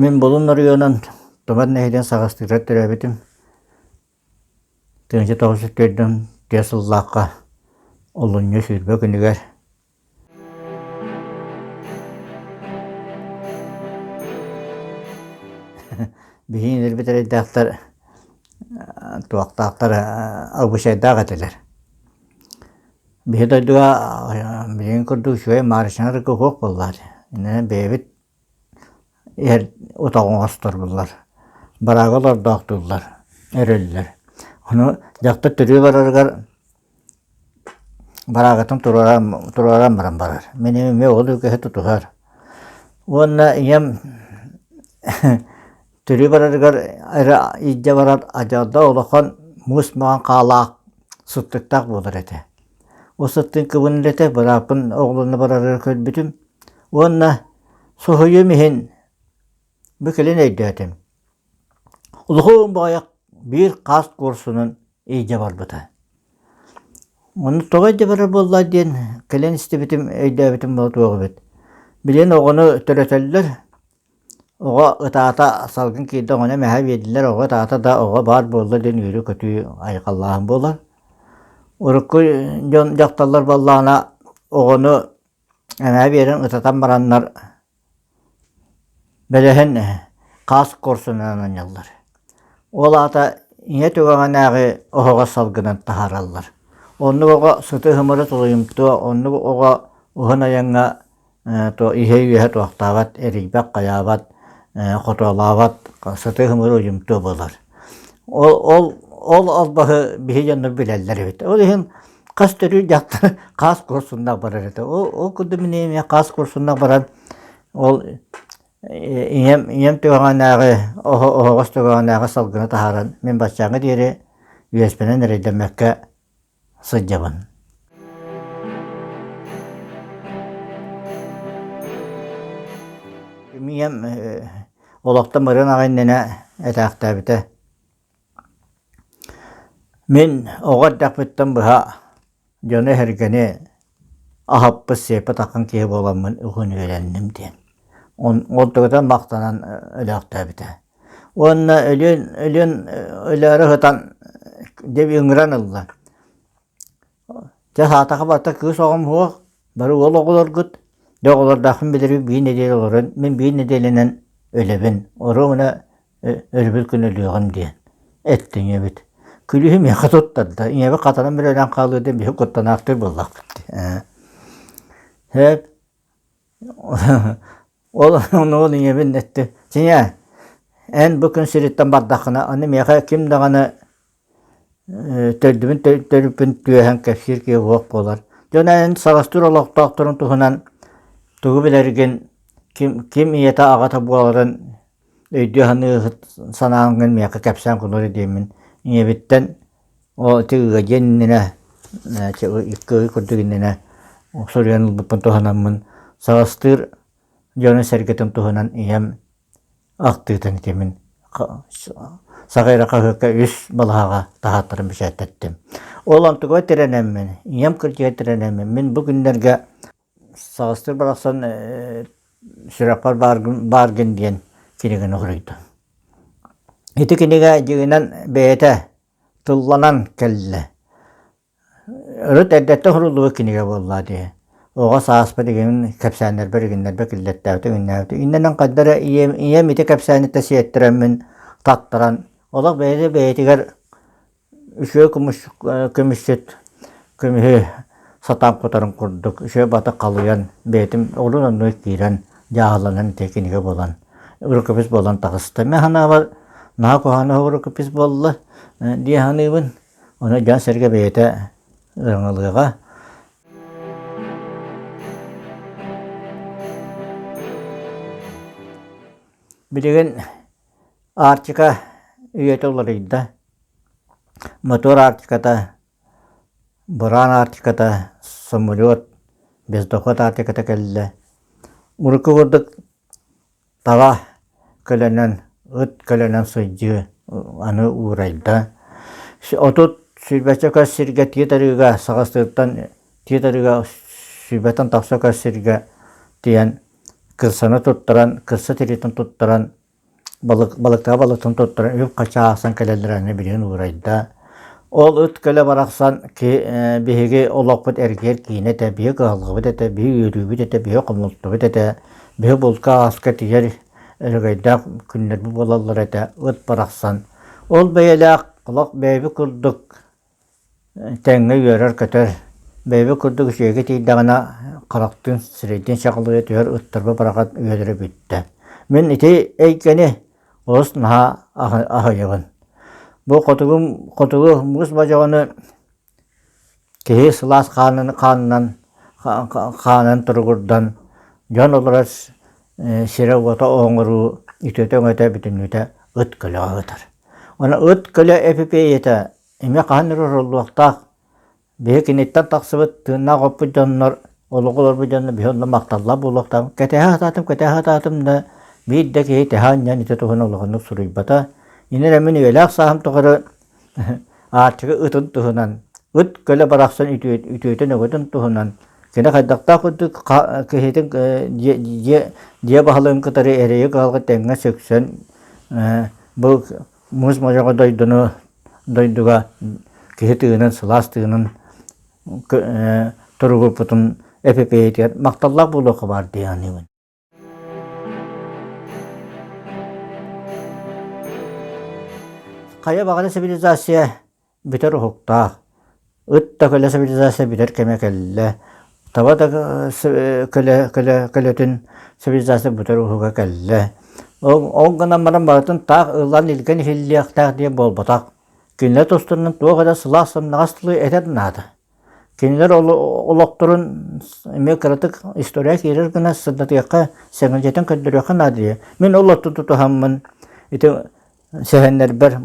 Мин Булун оройуонун Тумар нэһилиэгин саҕастыырар төрөөбүтүм. Тыһыынча тоҕус жүз төрдүн тыа сыллаахха олунньу сүүрбэ күнүгэр Биһиги өлбүт эрэйдээхтэр туохтаахтар обычайдаах этилэр. Биһи дойдуга билигин курдук үчүгэй Маарычаҥар куһуох буоллаат, иннинэ бэйэбит Эр отоҕу оҥосторбуллар, бараага олордоохтууллар, өрөллөр. Ону дьахтар төрүө барарыгар бараагытын туруоран туруоран баран барар. Мин эмиэ уол үгэһи тутуһар. Уонна ийэм Төрүү барарыгар эрэ илдьэ барар адьырда улахан муус маҥан хаалаах сыттыктаах буолар этэ. Ол сыттыын кыбын үлэтэ бырааппын оҕолорно барарыгар көрбүтүм уонна соһуйум иһин бу кэлин өйдөөтүм. Улуһуун баҕайах биир хаас куорсунун илдьэ барбыта. Ону тоҕо илдьэ барар буолла диэн кэлэн истибитим өйдөөбүтүм буолуо эбит. Билигин оҕону төрөтөллөр, Оҕо ытаата салгын киирдэ оҕону эмэһэ биэрдилэр оҕо ытаата да оҕо баар буолла диэн үөрүү-көтүү айхаллааһын буолар. Урукку дьон дьахталлар буоллаҕына оҕону эмэһэ биэрэн ытатан бараннар бэлэһин хаас куорсунунан анньаллар. Ол аата ийэ түгэҕинээҕи оһоҕо салгынын таһаараллар. Оннук оҕо сыты-һымыры тулуйумтуо, оннук оҕо уһун айаҥҥа Иһэ үөһэ туохтаабат, эрийбэт, хайаабат, хотоолообот, сытыы һымыыр уйумтуо буолар. Ол ол ол албаһы биһи дьоннор билэллэр эбит. Ол иһин хас төрүүр дьахтар хаас куорсуннах барар этэ. Ол ол курдук мин эмиэ хаас куорсуннах баран ол ийэм ийэм түһэҕинээҕи оһо оһоҕос түһэҕинээҕи салгыны таһааран мин баччааҥҥа диэри үөспэнэн эрэйдэммэккэ сылдьабын Ийэм олохтон барыан аҕа иннинэ этээхтээбитэ мин оҕо эрдэхпиттэн быһа дьону эһэргэни аһаппыт сиэппит аккын киһи буоламмын үһүн үөлэнним диэн ол тугутан махтанан өлөөхтөөбүтэ уонна өлүөн өлүөн өлөөрө сытан дьэ ыҥыран ылла. Дьэ саатаха барта кыыс оҕом суох бары уол оҕолоргут дьэ оҕолордоохпун билэрбин биир нэдиэлэ олорон мин биир нэдиэлэнэн өлөбүн оруобуна өрөбүл күн өлүөҕүм диэн эттэ ийэбит күлүһү миэхэ туттарда ийэбит хатанан бэрэлээн хаалыа диэн биһи куттанаахтык буллахпыт ээ Ол ону ийэбин эттэ дьиҥэ эн бу күн сириттэн бардаххына аны миэхэ ким даҕаны төрдүбүн төрүппүн түөһэн кэпсиир киһи суох буолар дьон эн саҕастыыр олохтоохторуҥ туһунан тугу билэргин ким ким ийэтэ аҕата буоларын өйдүү-саныы санааҥҥын миэхэ кэпсээн гыннари диэммин ийэбиттэн оо ити ыга диэн иннинэ икки курдук иннинэ суруйан ылбыппын туһанаммын саҕастыыр дьону-сэргэтин туһунан ийэм ахтыытын итимин саҕа эрэ хаһыакка үс балаһаҕа таһааттаран бэчээттэттим. Ол онтугугар тирэнэммин ийэм кырдьыга тирэнэммин бу күннэргэ Саҕыстыр барахсан Сүрэхпэр бааргын диэн киниганы хоруйдум. Ити кинигэ дьиҥинэн бэйэтэ тылланан кэллэ. Урут эрдэттэн суруллубут кинигэ буоллаҕа дии. Оҕо сааспыт игин кэпсээннэрбэр игиннэрбэр киллэртээбитэ, иҥиннээбитэ. Иннинэн ханна эрэ ийэм ийэм ити кэпсээниттэн сиэттэрэммин таттаран, олох бэйэтэ бэйэтигэр Үтүө көмүс көмүсчүт көмүһү сатаан кутарын курдук үчүгэй бата халыйан бэйэтин орун оннугар киирэн дьааһыланан тиэхиньикэ буолан рукопись буолан таҕыста. Мин санаабар наһаа куһаҕан рукопись буолла дии саныыбын. Ону дьон-сэргэ бэйэтэ ыраҥалыаҕа. Билигин Арктика үйэтэ уларыйда. Мотуор Арктиката, быраан Арктиката, самолет, бездоход Арктиката кэллэ. Урукку курдук таба көлөнөн, ыт көлөнөн сылдьыы аны уурайда. Отут сүүрбэччэ көс сиргэ тиит арыыга, Саха Сытыттан тиит арыыга сүүрбэттэн тахса көс сиргэ тиийэн кырсаны туттаран, кырса тиритин туттаран, балык, балыктаах балыктан туттаран үп-хача аахсан кэлэллэр аны билигин уурайда. Ол ыт көлө барахсан ки, э, биһиги олохпут эргиэр киинэ этэ, биһи кыһалҕабыт этэ, биһи үөрүүбүт этэ, биһи хомолтубут этэ, биһи булка ааска тигэр өрөгөйдөөх күннэрбит буолаллар этэ, ыт барахсан. Ол бэйэлээх олох бэйэбит курдук тэҥҥэ үөрэр-көтөр, бэйэбит курдук үчүгэйгэ тиийдэҕинэ харахтыын, сирэйдиин чаҕылыйа түһэр ыттарбыт барахат үөлэрэ бүттэ. Мин ити эйгэни олус наһаа аһыйабын. Бу хотугум хотугу муус бодьоҕону киһи сылаас хаанынан хаанынан хаанын туругурдан дьон олорор сирэ-уота оҥоруу үтүөтэ-өҥөтө бүтүннүүтэ ыт көлөҕө сытар. Уонна ыт көлө эпипиэйэтэ эмиэ хаһан эрэ оруллуохтаах. Биһи киниттэн тахсыбыт тыыннаах оппут дьоннор, олоҕу олорбут дьоннор биһи онно махталлаах буолуохтаахпыт. Кэтэһэ сатаатым, кэтэһэ сатаатым да биир да киһи тэһэ анньан ити туһунан улаханнык суруйбата. Ини эрэ мин үйэлээх сааһым тухары Аарчыга ытын туһунан, ыт көлө барахсан үтүөтүн өгөтүн туһунан кини хайдахтаах курдук киһитин дьиэ баһылыгын кытары эрэйи кыһалҕа тэҥҥэ сөксөн бу муус модьоҕо дойдуну дойдуга киһи тыынын сылаас тыынын туругурпутун эпипэйэтигэр махталлаах буолуохха баар дии саныыбын Хайа баҕана цивилизация бүтэр уһуктаах, ыт да көлө цивилизация бүтэр кэмэ кэллэ, таба да көлөтүн цивилизация бүтэр уһуга кэллэ. Ол гынан баран барытын таах ылан илгэн иһиллиэхтээх диэн буолбатах. Кинилэр тустарынан туох эрэ сылаас-сымнаҕас тылы этэр наада. Кинилэр олохторун эмиэ кыратык история киирэр гына сырдатыахха, сэмэлдьитэн көрдөрүөххэ наадыйа. Мин ол отту тутуһаммын ити сэһэннэрбэр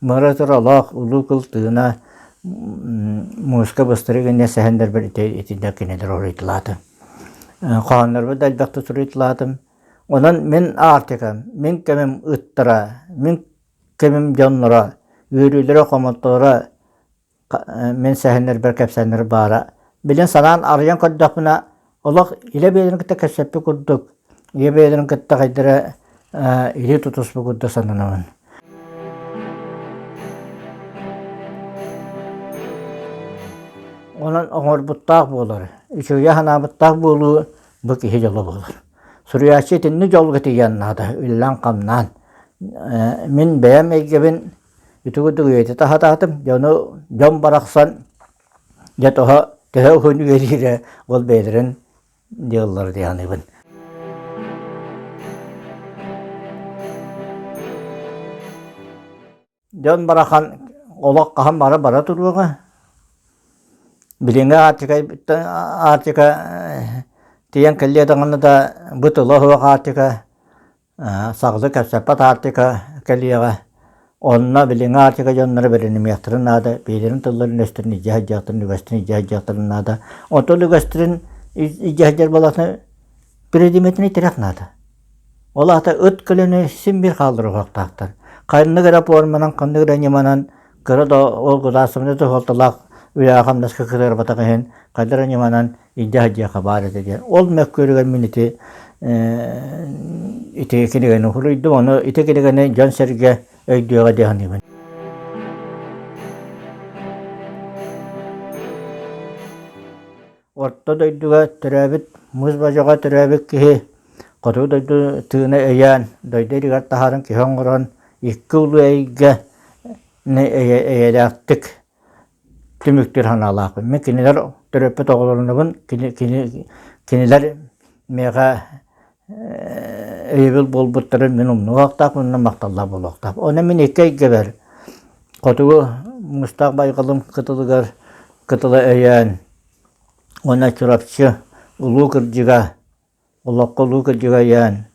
Мыра Туралаах, Улуу Кыл Тыына, Муска Быстырык инньэ сэһэннэрбэр итиннэ кинилэр уруйдулаатым. Хоһооннорбор да элбэхтик суруйтулаатым. Онон мин Аартикам, мин кэмим ыттара, мин кэмим дьонноро, үөрүүлэрэ-хомолторо мин сэһэннэрбэр кэпсээннэр баара. Билэн санаан арыйан көрдөхпүнэ олох илэ бэйэлэрин кытта кэпсэппит курдук, ийэ бэйэлэрин кытта хайдара илии тутуспут курдук сананабын. Онон оҥорбуттаах буолар, үчүгэйэ санаабыттаах буолуу бу киһи дьоло буолар. Суруйааччы итинник дьолго тиийэн наада, үллээн-хамнаан. Мин бэйэм эйгэбин Ити курдук үйэтэ таһатаатым, дьэ ону дьон барахсан дьэ тоһо төһө уһун үйэлиирэ ол бэйэлэрин диаллары дьаныыбын. Дьон барахан олох хаһан бара бара туруоҕа. Билиҥҥи Аартикай Аартика э, тиийэн кэллиэ даҕаны да бытыла суох Аартика саҕана кэпсэппэт аартыка кэлиэҕэ онно билиҥҥи аартыка дьонноро бэринимиэхтэрин наада биилэрин тылларын үгэстэрин илдьэ сылдьыахтарын үгэстэрин илдьэ сылдьыахтарын наада оттон үгэстэрин илдьэ сылдьар буоллаҕына предметини тириэх наада ол аата ыт көлөнө син биир хаалар уһуохтаахтар ханнык эрэ форманан ханнык эрэ ньыманан кыра да оргутаасыманы суһуолталаах үлэҕэ хамнаска кытарбатах иһин хайдах эрэ ньыманан идея диэхэ баар этэ диэн. Ол мөккүөрүгэр мин ити ити кинигэни хулуйдум, ону ити кинигэни дьон-сэргэ өйдүөҕэ диye саныыбын. Орто дойдуга төрөөбүт мыс божоҕо төрөөбүт киһи хоту дойду тыына өйөөн, дойду иригэр таһарын киһи оҥорон, икки улуу эйгэ эйэлээхтик түмүктүүр санаалаах. Мен кинилэр төрөппүт оҕолорунабын кини, кини, кинилэр миэхэ өйөбүл буолбуттарын мин умнубахтаах уонна махталлаах буолуохтаах. Ону мин икки эйгэбэр хотугу мустаах байҕалым кытылыгар кытыла өйөөн уонна Чурапчы улуу кырдьыга олоххо улуу кырдьыга айаан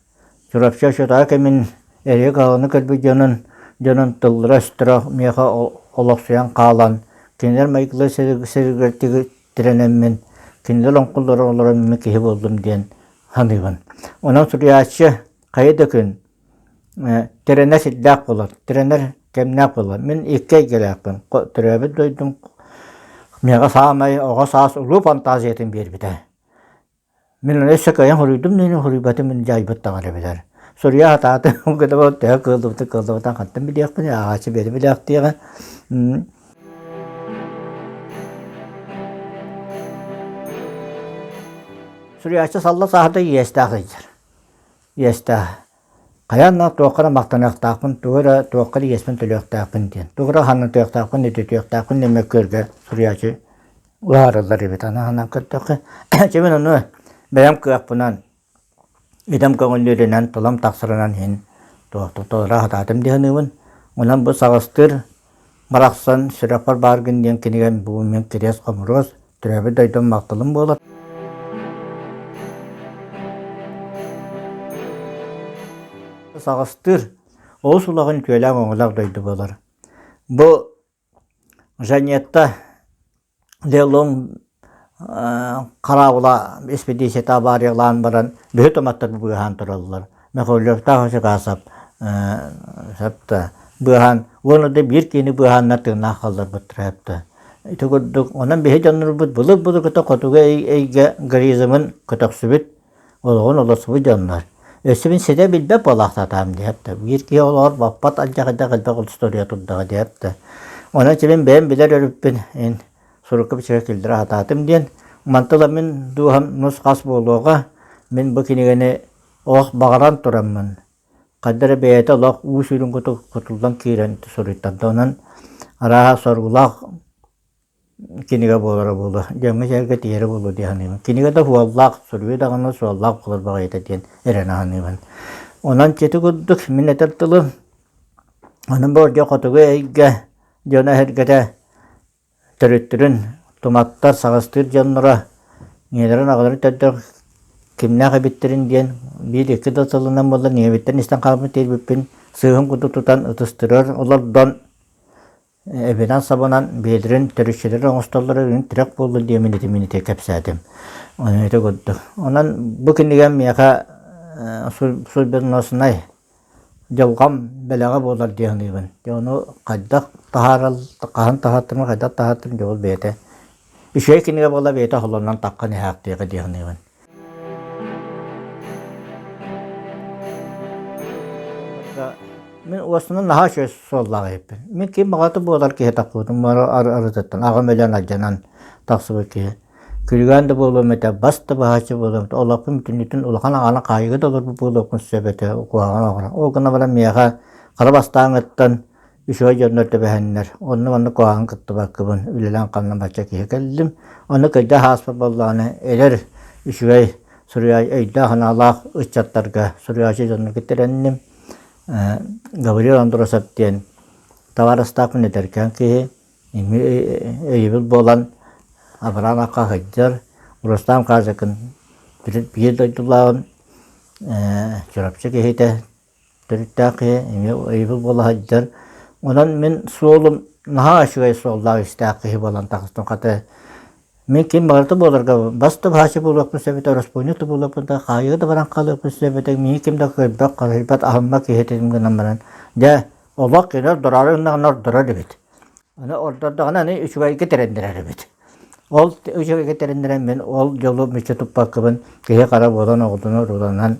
Чурапчы очотаа кэмин эрие каһыны көрбүт дьонун дьонун тыллара-өстөрө миэхэ олохсуйан хаалан кинилэр майгылара сэргиэртик тирэнэммин кинилэр оҥкуллара олороммун киһи буоллум диэн саныыбын онон суруйааччы хайа да күн тирэнэр сирдээх буолар тирэнэр кэмнээх буолар мин икки эйгэлээхпин төрөөбүт дойдум миэхэ саамай оҕо саас улуу фантазиятын биэрбитэ Мин арай өссө кыайан хоруйдум да иһин хоруйбатым иһин дьаайбыт даҕаны эбэтэр суруйа сатаатым кытабыт төһө кыаллыбытын кыаллыбытын хантан билиэхпиний ааҕааччы бэйэтэ билиэхтиэҕэ суруйааччы салла сааһырда иэстээх ыйдьар иэстээх Хайаан да туохха да махтаныахтаахпын, тугу эрэ туохха да иэспин төлүөхтээхпин диэн. Тугу эрэ хаһаҥнатыахтаахпын, ититиэхтээхпин мөккүөргэр суруйааччы уһаарыллар эбит. Аны ханан көрдөххө, чэ мин ону бэйэм кыахпынан, итэм көҥүллүүрүнэн, тулам тахсарынан иһин туохта толоро сатаатым дии саныыбын. Онон бу саҕастыыр Барахсан сүрэхпэр бааргын диэн кинигэм бу мин кириэс-хомуруос, төрөөбүт дойдум махталым буолар. Саҕастыр олус улахан күөлээх-оҥолоох дойду буолар. Бу Жанетта Делум хараабыла испэдииссийэтэ абаариялаан баран бүһүт омоттор быыһаан тураллар. Михайловтаах Осикасов быыһаан уонна да биир киини быыһааннар тыыннаах халларбыттара эбитэ. Ити курдук онон биһи дьоннорбут былыр-былыргыта хотугу эйгэ гаризмын көтөхсүбүт олоҕун олорсубут дьоннор өссө мин ситэ билбэт буолаахтаатаҕым диэбит да биир киһи олоҕор баппат алдьархайдах элбэх устуоруйа турдаҕа диэбит да онон ити мин бэйэм билэр өрүппүн ин сурукка бичигэ киллэрэ сатаатым диэн мантан ыла мин дууһам нус-хас буолуоҕа мин бу кинигэни олох баҕаран тураммын ханна эрэ бэйэтэ олох уу сүрүн кутук кутуллан киирэн суруйтарда онон арааһа соргулаах Кинигэ буолара буолуо, дьоҥҥо-сэргэ тиийэрэ буолуо дии саныыбын. Кинигэ да суоллаах, суруйуу даҕаны суоллаах буолар баҕайыта диэн эрэнэ саныыбын. Онон ити курдук мин этэр тылым ону болдьох хотугу эйгэ дьоно-эһэргэтэ төрүттэрин туматтар, саҕастыыр дьонноро ийэлэрин-аҕаларын төрдөр кимнээх эбиттэрин диэн биир-икки да сылынан буоллар ийэбиттэн истэн хаалбыт тиэрбиппин сыыһым курдук тутан ытыстырар олордон эбинэн-сабынан биэдэрин төрүччүлэри оҥостоллоро үрүҥ тирэх буолла диэмин итимин ити кэпсээтим ити курдук онон бу кинигэм миэхэ суйберносунай дьылҕам бэлэҕэ буолар дии саныыбын дьэ ону хайдах таһаарал хаһан таһааттым хайдах таһааттым дьэ ол бэйэтэ үчүгэй кинигэ буолла бэйэтэ холонон таххан иһээхтиэҕэ дии саныыбын Мин уостанан наһаа үчүгэй суоллаах иһиппин. Мин ким баҕата буолар киһи тахпытым бары арытыттан аҕам өлөн алдьанан тахсыбыт киһи. Күлүгээн да буолуом этэ, бас да баһааччы буолуом этэ, олохпун бүтүннүтүн улахан аҕаны хаайыыга да олорбут буолуохпун сөп этэ, куһаҕан оҕоро. Ол гына баран миэхэ хара бастааҥыттан үчүгэй дьоннор тэбэһэннэр, онно-манна куһаҕан кыттыбаккыбын, үлэлээн-хамнан бачча киһи кэллим. Онно кырдьах ааспыт буоллаҕына, эдэр, үчүгэй суруйааччы, өйдөөх-санаалаах ыччаттарга суруйааччы дьонун киттэрэнним. Гавриил Андросов диэн табаарыстаахпын эдэркээн киһи, өйөбүл буолан Авраам Акка сылдьар, Рустам Казакын биир дойдулааҕым, Чурапчы киһитэ, төрүттээх киһи эмиэ өйөбүл буола сылдьар. Онон мин суолум наһаа үчүгэй суоллаах-иистээх киһи буолан тахыстым. Хата, мин ким барыта буоларга бас да баһааччы буолуохпун сөбүтэ, өрөспүүнньүк да буолуохпун да, хаайыы да баран хаалыахпын сөбүтэ, миигин ким да көрбөх, харыйбат, аһыммат киһитин гынан баран, дьэ, олох кинилэр дораары гыннаҕына ордорор эбит. Аны ордордоҕуна аны үчүгэйгэ тирэннэрэр эбит. Ол үчүгэйгэ тирэннэрэн мин ол дьолу мүччү туппаккабын киһи хара буолан оҕдону руланан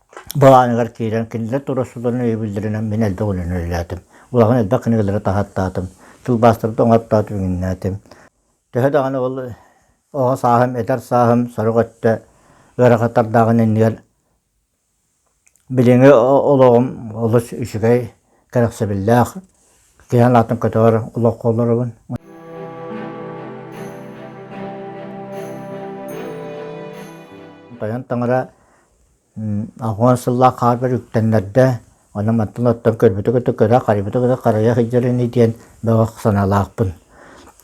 Былааныгар киирэн кинилэр тура сылан өйөбүллэринэн мин элбэх үлэни үлэлээтим. Улахан элбэх кинигэлэри таһаттаатым, тылбаастарбын оҥоттоотум, иҥнээтим. Төһө даҕаны ол оҕо сааһым, эдэр сааһым сорох өттө ыарахаттардааҕын иннигэр билиҥҥи олоҕум олус үчүгэй, кэрэхсэбиллээх, киһи санаатын көтөҕөр олоххо олоробун. Тойон Таҥара Уон сыллаах хаапер үктэннэрдэ, онон мантан оттон көрбүтү кытта кыра, харайбыты кытта харайа сылдьар ини диэн бөҕө санаалаахпын.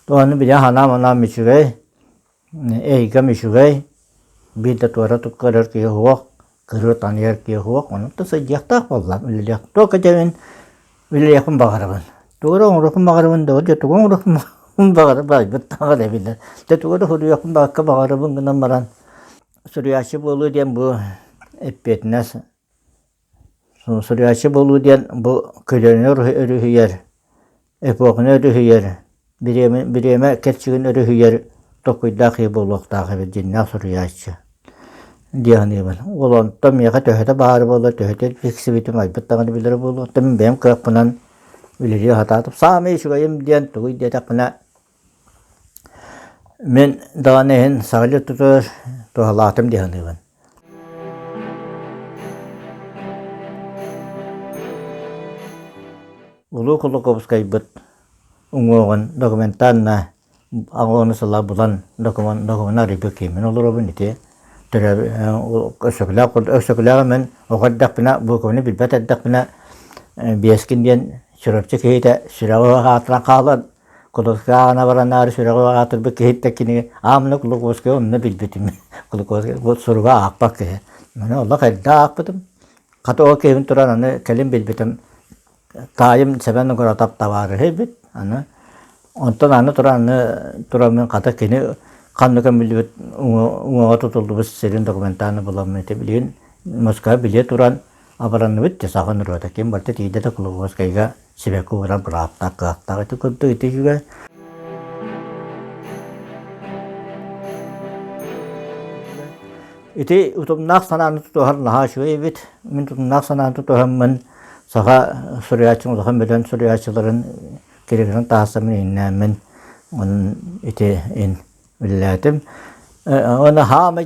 Ону били санаам-анаам үчүгэй, эйгэм үчүгэй, биир да туора көрөр киһи суох, кырыа таныйар киһи суох, онуоттан сылдьыахтаах буоллаҕым, үлэлиэх. Туох кэтэбин, үлэлиэхпин баҕарабын. Тугу эрэ оҥоруохпун баҕарабын да, дьэ тугу оҥоруохпун баҕарабын айбыттааҕар эбиллэр. Дьэ тугу эрэ суруйуохпун баҕарабын гынан баран суруйааччы буолуу диэн бу эппиэтинэс суруйааччы буолуу диэн бу көлүөнэ өрүһүйэр эпоханы өрүһүйэр бириэмэ бириэмэ кэрчигин өрүһүйэр толкуйдаах киһи буолуохтаах эбит дьиннээх суруйааччы дии саныыбын ол онтон миэхэ төһөтө баара буоллар төһөтө тиксибитим айбыт даҕаны билэрэ буолуохтан бэйэм кыахпынан үлэлии сатаатым саамай үчүгэйим диэн тугуй диэтэхпинэ Мин даҕаны иһин саҕалыы тутар туһалаатым дии саныыбын. Улуу Колокуобускайбыт уҥуоҕун документанна аҕону сыла булан документ документ арыйга киимин олоробун ити төрөп өксөкүлээх өксөкүлээх мин оҕо эрдэхпинэ буукубаны билбэт эрдэхпинэ биэскин диэн Чурапчы киһитэ сүрэҕи аатыран хаалан Кулуковскааҕына баранаары сүрэҕи аатырбыт киһиттэн кинигэ аамына Кулуковскайы онно билбитим. Кулуковскай суруга аахпат киһи. Аны олох эрдэ аахпытым. Хата ол киһибин туран аны кэлин билбитим таайым Сэмэн Угуратап табаарыһы эбит. Аны онтон аны туран аны туран мин хата кини ханна көмүллүбүт уҥуоҕа тутуллубут сирин документааны буламмын ити билигин Москва билиэ туран Абыранныбыт да саҕын ырыата ким барда тиийдэ да Кулуковскайга сибэкки уурар бырааптаах кыахтаах ити курдук итигэ Ити утумнаах санааны тутуһар наһаа үчүгэй эбит. Мин утумнаах санааны тутуһаммын саха суруйааччын улахан бөдөн суруйааччыларын киригинэн таасамын иннээмин онон ити ин үллээтим. Оны хаамай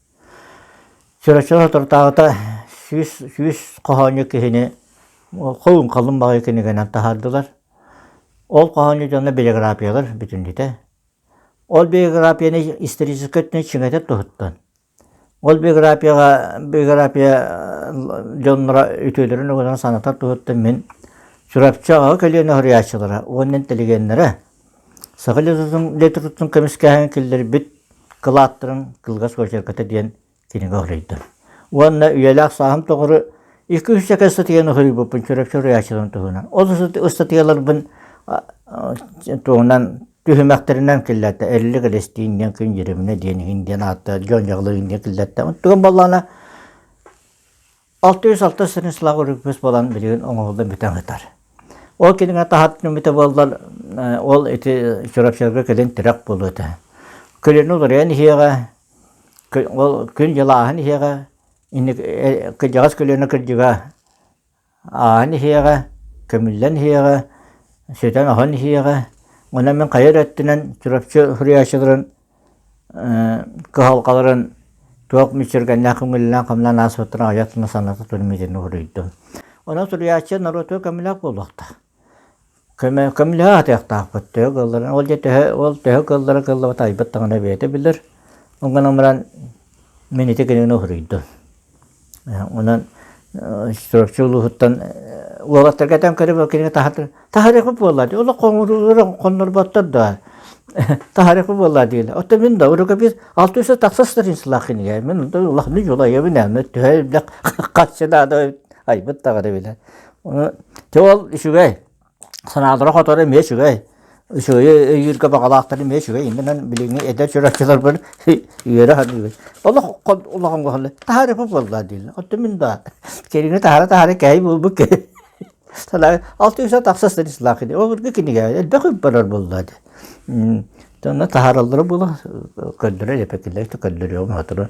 Чураччы соторутааҕыта сүүс сүүс хоһоонньут киһини холун халлын баҕайы кинигэнэн таһаардылар. Ол хоһоонньут дьоно биографиялар бүтүннүтэ. Ол биографияны историческай өттүнэн чиҥэтэр туһуттан. Ол биографияҕа биография дьонноро үтүөлэрин угунан санатар туһуттан мин Чурапчы аҕа көлүөнэ уһуйааччылара уонна интеллигеннэрэ Саха летотун летотун көмүскээһин киллэрбит кылааттарын кылгас очерката диэн кинигэ хоруйда. Уонна үйэлээх сааһым тоҕуру икки үс ыстатыйаны хоруйбуппун чөрөк чөрөйааччыларын туһунан. Ол ыстатыйаларбын туһунан түһүмэхтэринэн киллэртэ Эллик Элестиин диэн күн Дьириминэ диэн иһин диэн аатта Дьон Дьаглы диэн киллэртэ. Тугун боллаана 606 сырын сылаҕа үрүппүс буолан билигин оҥоһуллан бүтэн сытар. Ол кинигэ таһатын үмүтэ буоллар ол ити Чурапчыларга кэлин тирэх буолуо этэ. Көлөнү уларыйан иһиэҕэ, ол күн-дьыл ааһан иһиэҕэ, кырдьаҕас көлөнө кырдьыга ааһан иһиэҕэ, көмүллэн иһиэҕэ, сүтэн-оһон иһиэҕэ. Онон мин хайа өттүнэн Чурапчы суруйааччыларын кыһалҕаларын туох мүччүргэннээх көҥүллээх хомунан ааспыттарын аҕыйах гына саната туруммутун уруйдум. Онон суруйааччы норуоту көмүлээх буолуохтаах. Көмө көмүлэһэ атыахтаахпыт төһө кыылларын ол дьэ төһө ол төһө кыыллара кыыллабыт айбыт даҕаны бэйэтэ билэр. Ол гынан баран мин ити гыныны уруйдум. Онон Чурапчы улууһуттан уолаттарга этэн көрөбүн кинигэ таһытын таһарыахы буолла дии олох хоннорботтор да таһарыахы буолла диилэ оттон мин да урука бир алты үсэ тахса страницалаах кинигэ мин онто улахны дьулайабын эми төһө элбэх хаччы наада айбыт тагары биле те ол үчүгэй санаалара-хотора эмиэ үчүгэй. Үчүгэйи өйүүргэ баҕалаахтар эмиэ үчүгэй. Иннинэн билиҥҥи эдэр чурапчыларбын үөрэ саныыбын. Олох улахан уһаллар. Таһаарыппыт буоллаа дииллэр. Оттон мин да кинини таһара-таһара кэһэй буолбут кэһэй. Санаа алты үс тахсас сырыслаах кини. Ол быргы кинигэ элбэх үппарар буоллаа дии. Тонна таһараллара була көрдөрө лепекиллер көрдөрүөм хатыры.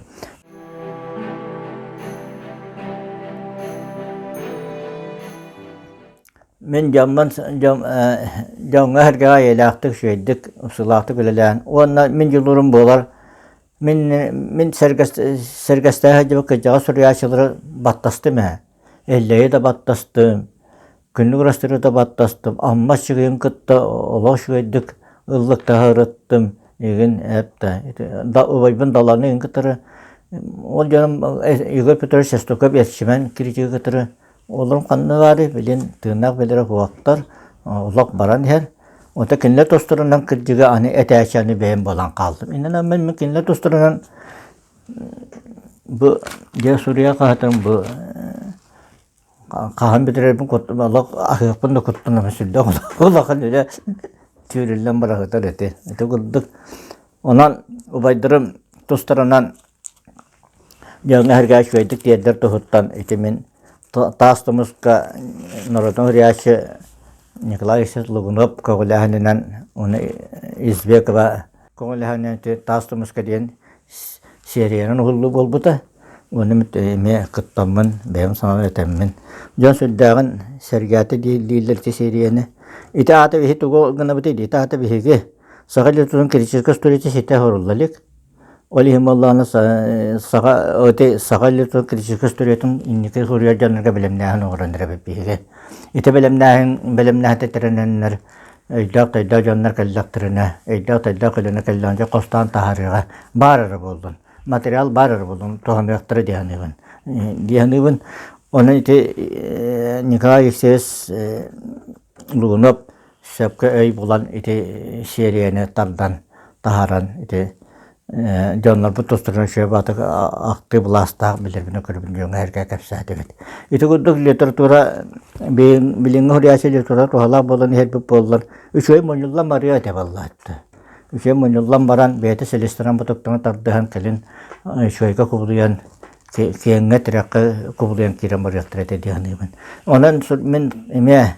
Мин дьоммун дьон дьоҥҥо эһэргэҕэ эйэлээхтик, үчүгэйдик, устуулаахтык үлэлээн уонна мин дьулуурум буолар мин мин сэргэстэһэ сылдьыбыт кырдьаҕас суруйааччылары баттастым ээ. Эллэйи да баттастым, күннүк ырастыыры да баттастым, Аммас Чыгыйын кытта олох үчүгэйдик ыллык таһаарыттым игин эптэ убайбын Даланы игин кытары ол дьонум Игорь Петрович Сестуков эрчимэн критигы кытары Олорум ханна баарый, билин тыыннаах билэрэ уоттар, олох баран иһэр. Уонна кинилэр тустарынан кырдьыга аны этээчи аны бэйэм буолан хаалдым. Иннинэ мин мин кинилэр тустарынан бу дьэ суруйа хаһатым бу хаһан бүтэрэрбин куттум олох аһыахпын да куттанам сүрдээх улахан үлэ түүлүллэн быраһытар эти ити курдук. Онон убайдарым тустарынан Дьылга эргэ үчүгэйдик тиэрдэр туһуттан итимин таас тумуска норатон рясче Николай Ильич Лугунов көҕүлэһэнинэн уну Избекова көҕүлэһэнинэн таас тумуска диэн сериянан уһуллуу буолбута. Уну эмиэ кыттаммын бэйэм санаан этэммин. Дьон сүрдээҕин сэргээтэ дииллииллэр ити серияны. Ити аата биһи тугу гынабыт ити ата биһиги саха литературатын критической столетия ситэ хорулла илик Ол иһин буоллаҕына саха эти саха классическай историятын инники суруйар дьоннорго бэлэмнээһин оҥорон биһиги ити бэлэмнээһин бэлэмнээһинтэн тэринэннэр өйдөөх-төйдөөх дьоннор кэллэхтэринэ өйдөөх-төйдөөх көлөнө кэллэҕинэ дьэ хостоон таһаарыыга баар эрэ буоллун материал баар эрэ буоллун туһаныахтара дии саныыбын дии саныыбын ону ити Николай Алексеевич Лугунов сөпкө өй булан ити серияны тардан таһааран ити дьоннорбут тустарынан үчүгэй баатык актыы былаастаах билэрбин-көрөрбүн дьоҥҥо эргэ кэпсээтибит. Ити курдук литература билиҥҥи уһуйааччы литература туһалаах буолан иһэрбит буоллар үчүгэй мунньуллан барыа этэ буоллааччы. Үчүгэй мунньуллан баран бэйэтэ силистэрэн бутуктарын тардыһан кэлин үчүгэйгэ кубулуйан киэҥҥэ тирэххэ кубулуйан киирэн барыахтара этэ дии саныыбын. Онон мин эмиэ